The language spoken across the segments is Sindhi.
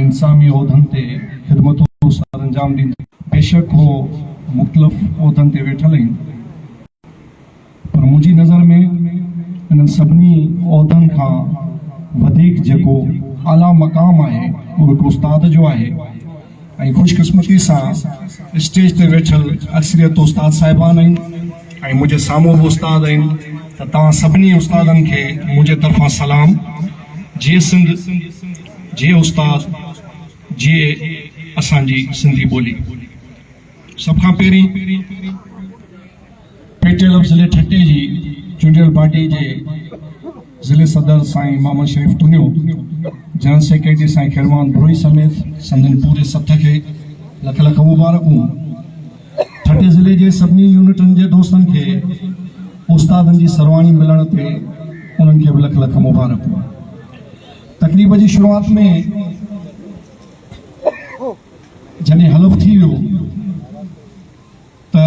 انساني عهدن تي خدمتون سرانجام ڏيندي. بيشڪ هو مختلف عهدن تي ويٺل اهن پر منهنجي نظر ۾ انهن سڀني عهدن کان وڌيڪ جيڪو اعليٰ مقام آهي اهو هڪ استاد جو آهي ۽ خوش قسمتي سان اسٽيج تي ويٺل اڪثريت استاد صاحبان آهن ۽ منهنجي سامهون به استاد آهن ته توهان سڀني استادن کي منهنجي طرفان سلام جيئن سنڌ جي استاد جيئي اسان جي سنڌي ٻولي. سڀ کان پهرين پي ٽي ايل ضلعي ٺٽي جي چونڊيل پارٽي جي ضلعي صدر سائين محمد شريف تنيو، جنرل سيڪريٽري سائين خيروان بروهي سميت سندن پوري سٿ کي لک لک مبارڪون. ٺٽي ضلعي جي سڀني يونٽن جي دوستن کي استادن جي سرواڻي ملڻ تي انهن کي به لک لک مبارڪون. تقريب جي شروعات ۾ جڏهن حلف ٿي ويو ته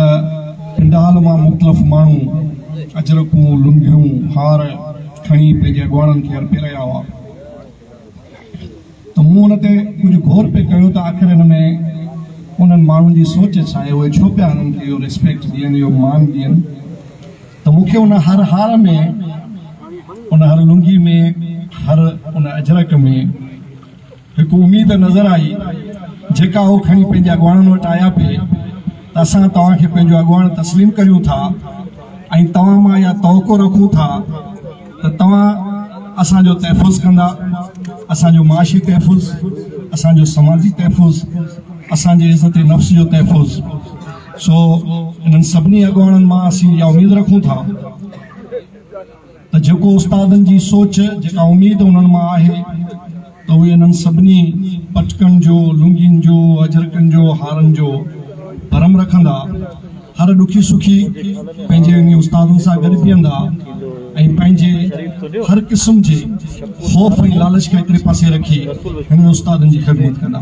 پنڊال مان مختلف ماڻهو اجرڪون لنگهيون هار کڻي پنهنجي اڳواڻن کي ارپي رهيا هئا ته مون ان تي ڪجهه غور پي ڪيو ته آخر ان ۾ انهن ماڻهن جي سوچ ڇا آهي اهي ڇو پيا انهن کي اهو ريسپيڪٽ ڏين اهو مان ڏين ته مون کي ان هر هار ۾، ان هر لنگي ۾، هر ان اجرڪ ۾ هڪ اميد نظر آئي، جيڪا هو کڻي پنهنجي اڳواڻن وٽ آيا پي ته اسان توهان کي پنهنجو اڳواڻ تسليم ڪريون ٿا ۽ توهان مان اها توقع رکون ٿا ته توهان اسان جو تحفظ ڪندا، اسان جو معاشي تحفظ، اسان جو سماجي تحفظ، اسان جي عزت نفس جو تحفظ. سو انهن سڀني اڳواڻن مان اسين اها اميد رکون ٿا ته جيڪو استادن جي سوچ جيڪا اميد انهن مان آهي ته اهي انهن سڀني پٽڪن جو لنگين جو اجرڪن جو هارن جو برم رکندا هر ڏکي سکي پنهنجي انهي استادن سان گڏ بيهندا ۽ پنهنجي هر قسم جي خوف ۽ لالچ کي هڪڙي پاسي رکي هنن استادن جي خدمت ڪندا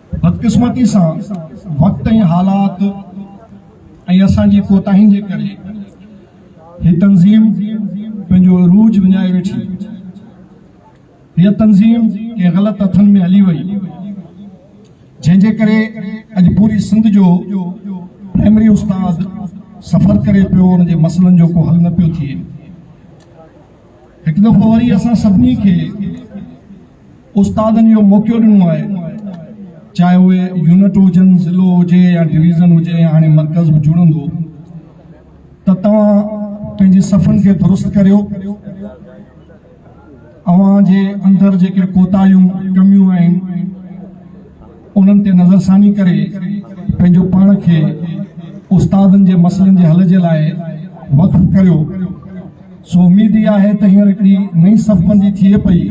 بدقسمتي سان وقت ۽ حالات ۽ اسان جي ڪوتاهين جي ڪري هي تنظيم پنهنجو عروج وڃائي ويٺي. هيء تنظيم ڪنهن غلط هٿن ۾ هلي وئي جنهن جي ڪري اڄ پوري سنڌ جو پرائمري استاد سفر ڪري پيو ان جي مسئلن جو ڪو حل نه پيو ٿئي. هڪ دفعو وري اسان سڀني کي استادن اهو موقعو ڏنو آهي چاهي اهي يونٽ هجن ضلعو هجي يا ڊويزن هجي يا هاڻي مرڪز به جڙندو ته توهان پنهنجي صفن کي درست ڪريو اوهان جي اندر جيڪي ڪوتاهيون ڪميون آهن انهن تي نظرثاني ڪري پنهنجو پاڻ کي استادن جي مسئلن جي حل جي لاء وقف ڪريو سو اميد ئي آهي ته هينئر هڪڙي نئين صف بندي ٿئي پئي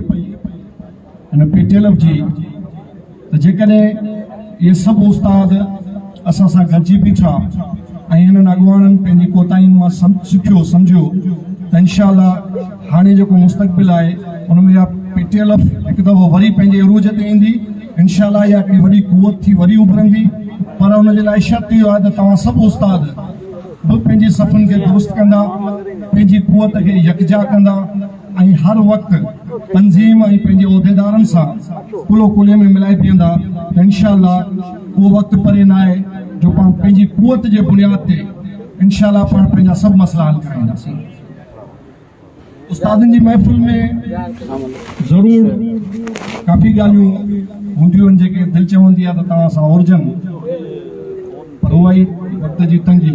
هن پي ٽي ايل ايف جي ته جيڪڏهن اهي سڀ استاد اسان سان گڏجي بيٺا ۽ هنن اڳواڻن پنهنجي ڪوتاهين مان سکيو سمجهيو ته انشاء الله هاڻي جيڪو مستقبل آهي ان ۾ اها پي ٽي ايل ايف هڪ دفعو وري پنهنجي عروج تي ايندي انشاء الله اها هڪڙي وڏي قوت ٿي وري اڀرندي پر ان جي لاء شرط اهو آهي ته توهان سڀ استاد به پنهنجي صفن کي درست ڪندا پنهنجي قوت کي يڪجا ڪندا ۽ هر وقت تنظيم ۽ پنهنجي عهديدارن سان ڪلهو ڪلهي ۾ ملائي بيهندا ته انشاء الله اهو وقت پري نه آهي جو پاڻ پنهنجي قوت جي بنياد تي انشاء الله پاڻ پنهنجا سڀ مسئلا حل ڪرائينداسين استادن جي محفل ۾ ضرور ڪافي ڳالهيون هونديون آهن جيڪي دل چوندي آهي ته توهان سان اورجن پر اها ئي وقت جي تنگي